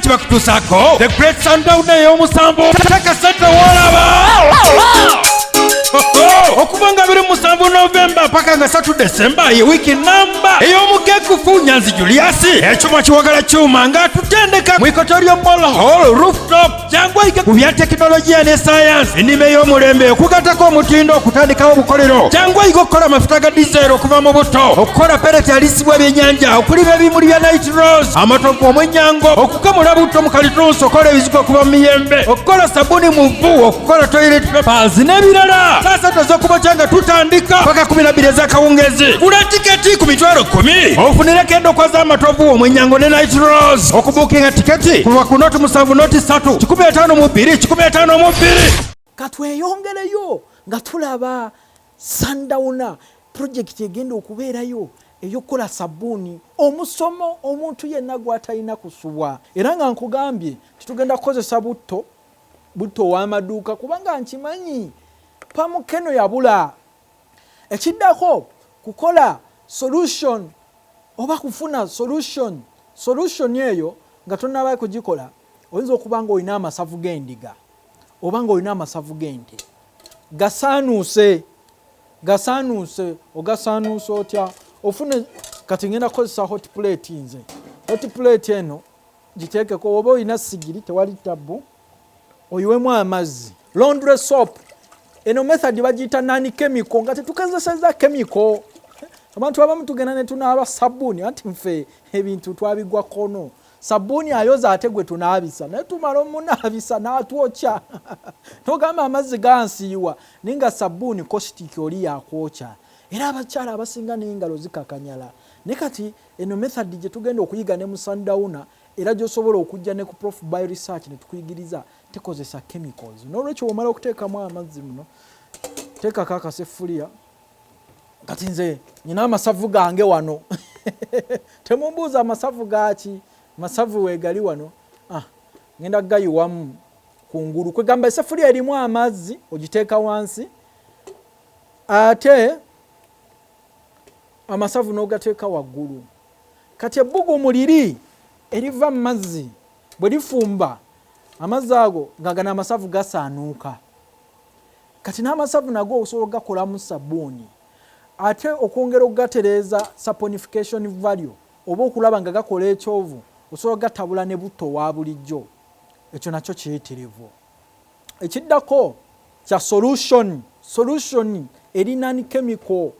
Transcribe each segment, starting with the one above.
ki bakutuusaako the great sundown ey'omusanvu taka sente wolaba okuva nga biri musanvu novemba paka nga satu desemba ye wiiki namba ey'omukekufu nyanzi juliasi ekyuma kiwagala kyuma nga tutendeka mu ikoto ly'omol hall rooftop jangu oyige ku bya tekinologiya ne sayansi ennima ey'omulembe okugatako omutindo okutandikawo obukolero jangu oyige okukola amafuta ga dizero okuva mu butto okukola pereti alisibwa ebyenyanja okulima ebimuli bya night rose amatovu omwenyango okukamula butto mu kalitunsi okukola ebizigo okuva mu miyembe okukola sabuni mu vvu okukola toilet papers n'ebirala saasatu ez'okubokya nga tutandika paka kumi nabbiri ez'akawungezi gula tiketi ku mitwalo kkumi ofunireko endokwa z'amatovu omwenyango ne night rose okubukinga tiketi kulwa ku noti musanvu noti satu kikumi etaano mu bbiri kikumi etaano mu bbiri katweyongereyo nga tulaba sandawuna purojekiti egenda okubeerayo eyokukola sabbuuni omusomo omuntu yenna gwatalina kusubwa era nga nkugambye nti tugenda kukozesa butto butto ow'amaduuka kubanga nkimanyi pamukeno yabula ekiddako kukola solution oba kufuna solution solution eyo nga tonaba kugikola oyinza okuba nga olina amasavu g'endiga oba nga olina amasavu g'ente gasaanuuse gasaanuuse ogasaanuuse otya ofune kati ngenda kukozesa hot plate nze hot plate eno giteekeko oba olina sigiri tewali tabbu oyiwemu amazzi laundry soap eno method bagiyita nani chemical nga tetukezeseza chemical abantu abamu tugenda netunaaba sabbuuni anti nfe ebintu twabigwa kono sabbuuni ayoza ate gwe tunaabisa naye tumala omunaabisa n'atwokya nogamba amazzi gansiiwa naye nga sabbuuni kositiki oli yakwokya era abakyala abasinga n'engalo zikakanyala naye kati eno method gye tugenda okuyiga ne musandawuna era gyosobola okujja ne ku prof by research ne tukuyigiriza tekozesa chemicals n'olwekyo womala okuteekamu amazzi muno teekako akaseffuliya kati nze nyina amasavu gange wano temumbuuza amasavu gaaki masavu weegali wano ah, ngenda gayiwamu ku ngulu kwegamba eseffuliya erimu amazzi ogiteeka wansi ate amasavu n'ogateeka waggulu kati ebbugumu liri eriva mu mazzi bwe lifumba amazzi ago nga gano amasavu gasaanuuka kati n'amasavu nago osobola okugakolamu sabbuuni ate okwongera okugatereeza saponification value oba okulaba nga gakola ekyovu osobola okugatabula ne butto wa bulijjo ekyo nakyo kiyitirivu ekiddako kya solution solution eri nani chemical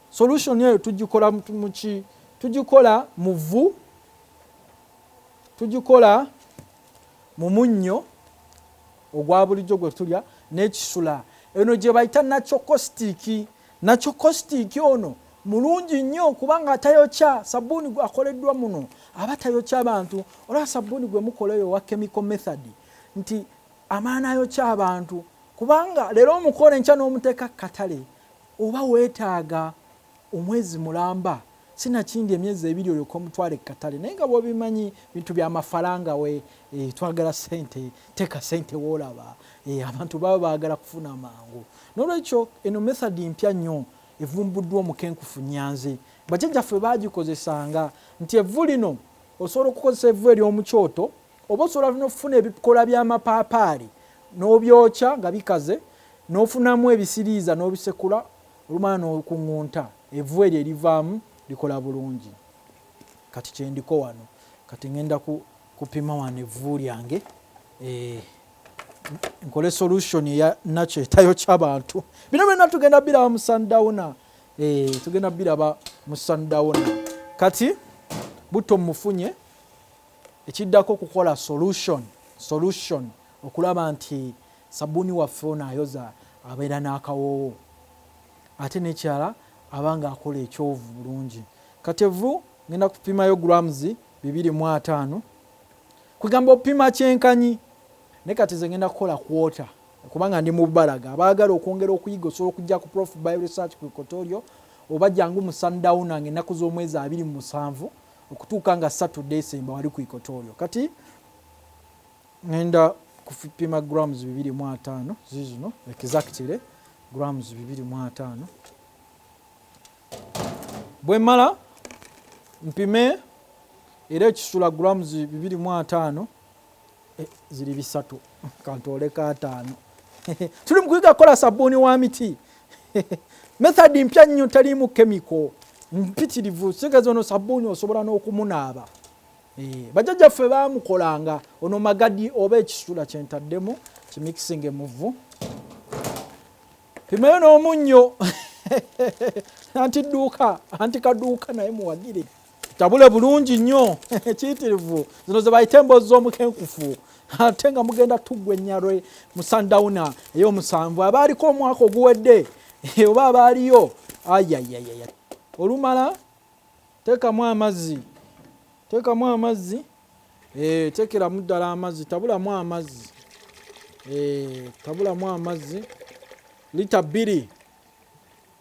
solution eyo tugikola muki tugikola mu vvu tugikola mu munnyo ogwa bulijjo gwe tulya n'ekisula eno gye bayita nakyokositiiki nakyokositiiki ono mulungi nnyo kubanga atayokya sabbuuni akoleddwa muno aba tayokya bantu olaba sabbuuni gwe mukola eyo owa chemical method nti amaana ayokya abantu kubanga leero omukola enkya n'omuteeka katale Oba wetaaga omwezi mulamba sinakindi emyezi ebiri olyoke omutwale kukatale naye nga bwobimanyi bintu byamafalanga we e, twagala sente teka sente wolaba e, abantu baba bagala kufuna mangu nolwekyo eno method mpya nnyo evumbuddwa omukenkufu nyanzi bajajjaffe bagikozesanga nti evvu lino osobola okukozesa evvu eryomukyoto oba osobola nokufuna ebikola byamapaapaali nobyokya nga bikaze nofunamu ebisiriiza nobisekula olumala nokuŋunta evu eryo erivaamu likola bulungi kati kyendiko wano kati ŋenda kupima wano evu lyange eh, nkole solution eya nakyo etayo kyabantu bino byonna tugenda biraba mu sundowna eh, tugenda biraba mu sundowna kati butto mufunye Ekiddako kukola solution solution okulaba nti sabbuuni waffe ono ayoza abeera n'akawoowo ate n'ekirala aba ng'akola ekyovu bulungi. Kati evvu ngenda kupimayo grams bibiri mu ataano kwegamba opima kyenkanyi naye kati nze ngenda kukola kwota kubanga ndi mubalaga abaagala okwongera okuyiga osobola okujja ku prof by research ku equatorio oba jangu mu sundowner nga ennaku z'omwezi abiri mu musanvu okutuuka nga satu decemba wali ku equatorio kati ngenda kupima grams bibiri mu ataano zizino exactly grams bibiri mu ataano bwe mmala mpime era ekisula grams bibiri mu ataano eh, ziri bisatu kantooleko ataano tuli mukuyiga kukola sabbuuni wa miti method mpya nnyo taliimu kemiko mpitirivu sigeza ono sabbuuni osobola n'okumunaaba eh, bajajja ffe bamukolanga ono magadi oba ekisula kyentaddemu kimixing emuvu pimayo n'omunnyo anti dduuka anti kaduuka naye muwagire tabule bulungi nnyo kiyitirivu zino zebayita emboozi z'omukenkufu ate nga mugenda tuggwa ennyalwe mu sundowna ey'omusanvu abaaliko omwaka oguwedde oba abaaliyo ayayayaya olumala teekamu amazzi teekamu amazzi eh, teekeramu ddala amazzi tabulamu amazzi eh, tabulamu amazzi lita bbiri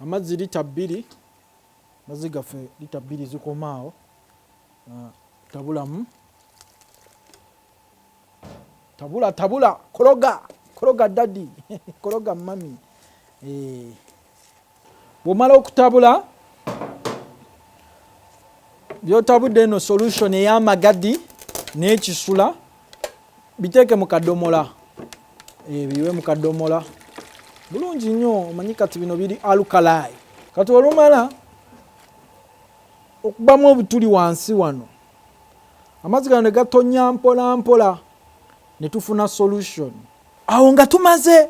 amazzi lita bbiri Mazzi gaffe lita bbiri zikoma awo, ah, tabulamu tabula tabula kologa kologa dadi kologa mami eh. bwomala okutabula byotabudde eno solution eyamagadi nekisula biteeke mu kadomola eh, biwe mu kadomola bulungi nnyo omanyi kati bino biri alukalayi kati olumala okubamu obutuli wansi wano amazzi gano ne gatonya mpola mpola ne tufuna solution awo nga tumaze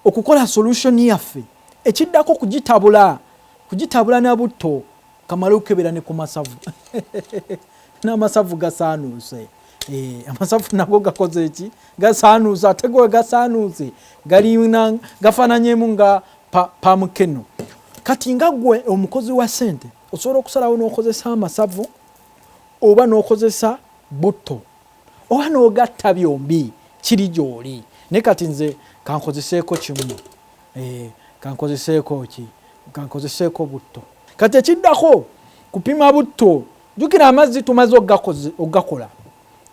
okukola solution yaffe ekiddako kugitabula kugitabula na butto kamale okukebera ne ku masavu n'amasavu gasaanuuse eh, amasavu nago gakoze eki gasaanuuse ate gowe gasaanuuse galina gafananyemu nga pamukeno kati nga gwe omukozi wa sente osobola okusalawo n'okozesa amasavu oba n'okozesa butto oba n'ogatta byombi kiri gyoli naye kati nze kankozeseeko kimu Eeh kankozeseeko ki? Kankozeseeko butto. Kati ekiddako kupima butto. Jjukira amazzi tumaze okugakola.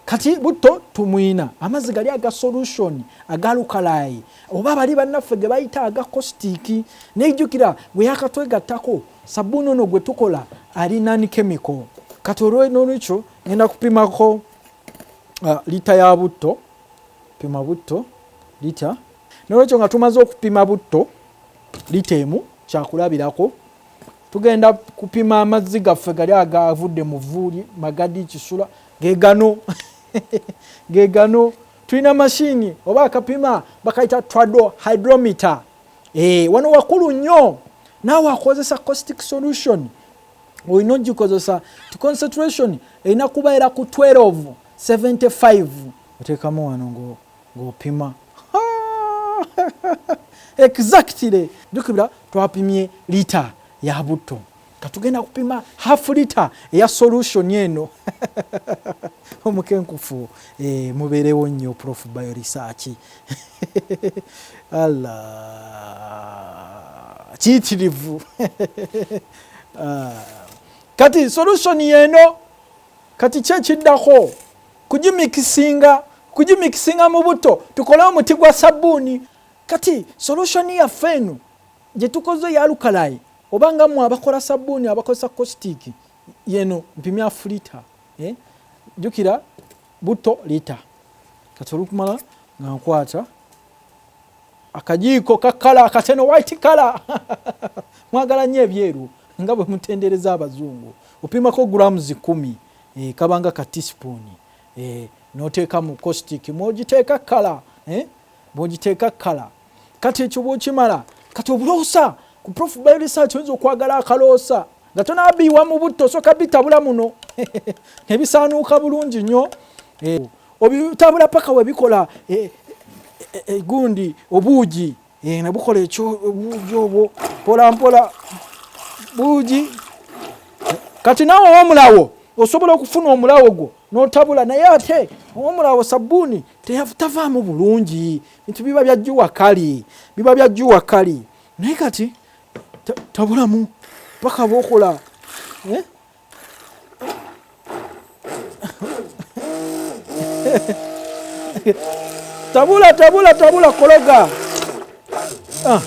Kati butto tumuyina. Amazzi gali aga solution, aga lukalaayi. Oba bali bannaffe ge bayita aga kositiiki. Naye jjukira gwe yakatwegattako sabbuuni ono gwe tukola ali non chemical. Kati olw'ekyo ngenda kupimako uh, lita ya butto. Pima butto lita. Nolwekyo nga tumaze okupima butto lita emu kyakulabirako tugenda kupima amazzi gaffe gali agavudde mu vvuuli magadi kisula gegano gegano tulina mashini oba akapima bakayita trado hydrometer e, wano wakulu nnyo naawe akozesa costic solution olina ogikozesa ti concentration erina kuba era ku 12 75 oteekamu wano ngoo ng'opima exactly jukira twapimye lita ya butto katugenda kupima half lita eya solution eno omukenkufu e, mubeerewo nnyo prof bio research alla kiyitirivu ah. kati solution yeno kati kyekiddako kugimikisinga kugimikisinga mu butto tukole omuti gwa sabbuuni kati solution yaffe eno gye tukoze yalukalayi oba nga mwe abakola sabbuuni abakozesa kositiiki yeno mpimya fulita eh? jukira butto lita kati olukumala nga nkwata akajiiko kakala akateno white kala mwagala nnyo ebyeru nga bwe mutendereza abazungu opimako grams kumi eh, kabanga ka teaspoon eh, noteeka mu caustic mwogiteeka kala eh, bwogiteeka kala kati ekyo bwokimala kati obuloosa ku prof by research oyinza okwagala akaloosa nga tonabiiwa mu butto osooka bitabula muno nebisaanuuka bulungi nnyo eh, obitabula paka webikola eh, eh, eh, gundi obuugi Eh, nabukola ekyo obuugi obwo mpola mpola buugi kati naawe owomulawo osobola okufuna omulawo gwo notabula naye ate owomulawo sabbuuni tavaamu bulungi nti biba byajjuwa kali biba byajjuwa kali naye kati tabulamu paka bokola eh? tabula tabula tabula kologa ah.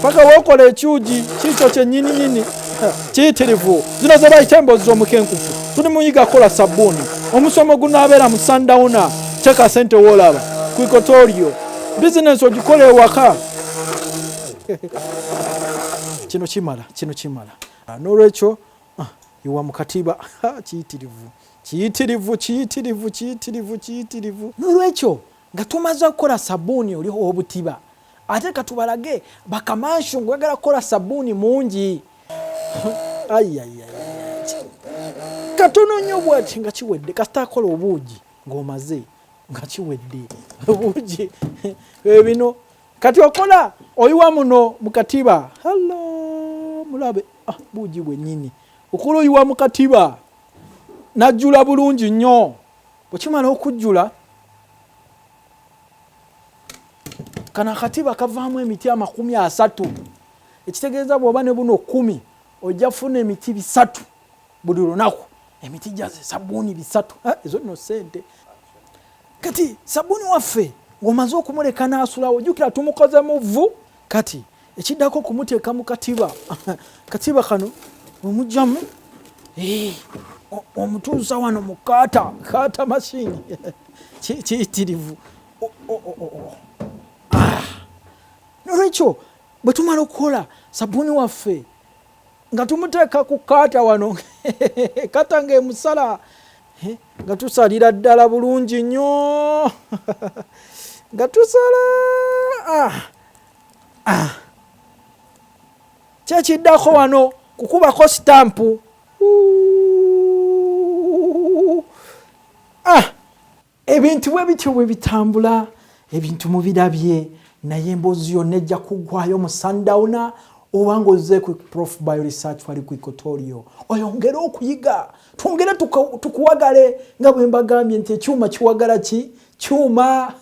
paka wokola ekyugi kikyo kyenyininyini kiyitirivu zino zebayita emboozi z'omukenkufu tuli muyiga kola sabbuuni omusomo gunaabeera mu sandawuna teeka sente woolaba kwikotorio bizinensi ogikola ewaka kino kimala kino kimala Ah, n'olwekyo ah, iwa mu katiba kiyitirivu kiyitirivu kiyitirivu kiyitirivu kiyitirivu n'olwekyo nga tumaze okukola sabuuni oli ow'obutiba ate katubalage bakamansu ngaoyagala kukola sabuuni mungi katono nnyo bwati nga kiwedde kasita akola obuugi ng'omaze nga kiwedde obuugi ebino eh, kati okola oyiwa muno mukatiba halo mulabe ah, buugi bwenyini okola oyiwa mukatiba najjula bulungi nnyo bwekimala okujjula kano akatiba kavaamu emiti amakumi asatu ekitegeeza bwoba ne buno kumi ojja funa emiti bisatu buli lunaku emiti gyaze sabuuni bisatu ezo nno sente kati sabuni waffe ngomaze okumuleka nasulawo jukira tumukoze muvu kati ekiddako okumuteeka mu katiba katiba kano omugyamu eh, omutuusa wano mu kaata kaata mashini kiyitirivu ah. nolwekyo bwe tumala okukola sabuni waffe nga tumuteeka ku kaata wano kata nga emusala nga tusalira ddala bulungi nnyo nga tusala ah, ah. kyekiddako wano kukubako sitampu ah. ebintu bwe bityo bwe bitambula ebintu mubirabye naye emboozi yonna ejja kuggwayo mu sundowna oba ngaoze ku prof by research wali ku ikotorio oyongere okuyiga twongere tukuwagale nga bwe mbagambye nti ekyuma kiwagala ki kyuma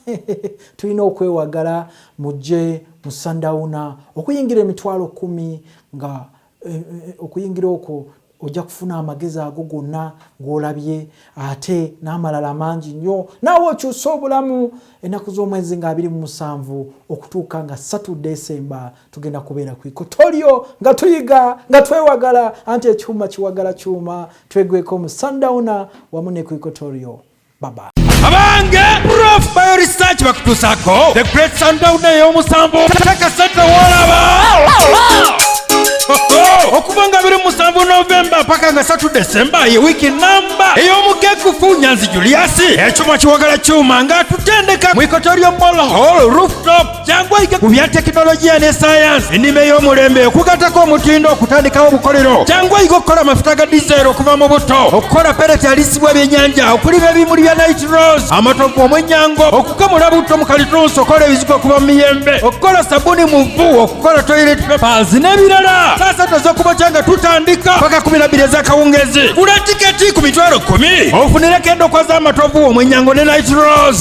tulina okwewagala mujje mu sundowna okuyingira emitwalo kumi nga Eh, eh, eh, okuyingira okwo ojja kufuna amagezi ago gonna gwolabye ate n'amalala mangi nnyo naawe okyusa obulamu ennaku z'omwezi nga abiri mu musanvu okutuuka nga satu desemba tugenda kubeera ku ikotolyo nga tuyiga nga twewagala anti ekyuma kiwagala kyuma twegweko mu sundowna wamu ne ku ikotolyo baba abange prof bio research bakutuusako the great sundown ey'omusanvu takasente wolaba okuva nga biri musanvu novemba paka nga satu desemba ye wiiki namba ey'omukekufu nyanzi juliasi ekyuma kiwagala kyuma ng'atutendeka mu ikoto ly'omolhol rooftop jangu oyige ku bya tekinologiya ne sayansi ennima ey'omulembe okugatako omutindo okutandikawo obukolero jangu oyige okukola amafuta ga dizeero okuva mu butto okukola pereti alisibwa ebyennyanja okulima ebimuli bya nit rose amatovu omwennyango okukamula butto mu kalitunsi okukola ebizigo okuva mu miyembe okukola sabuni mu vvu okukola toilet papers n'ebirala saasa toza okubakya nga tutandika paka kumi na bbiri ez'akawungezi gula tiketi ku mitwalo kkumi ofunireko endokwa z'amatovu omwennyango ne nit rose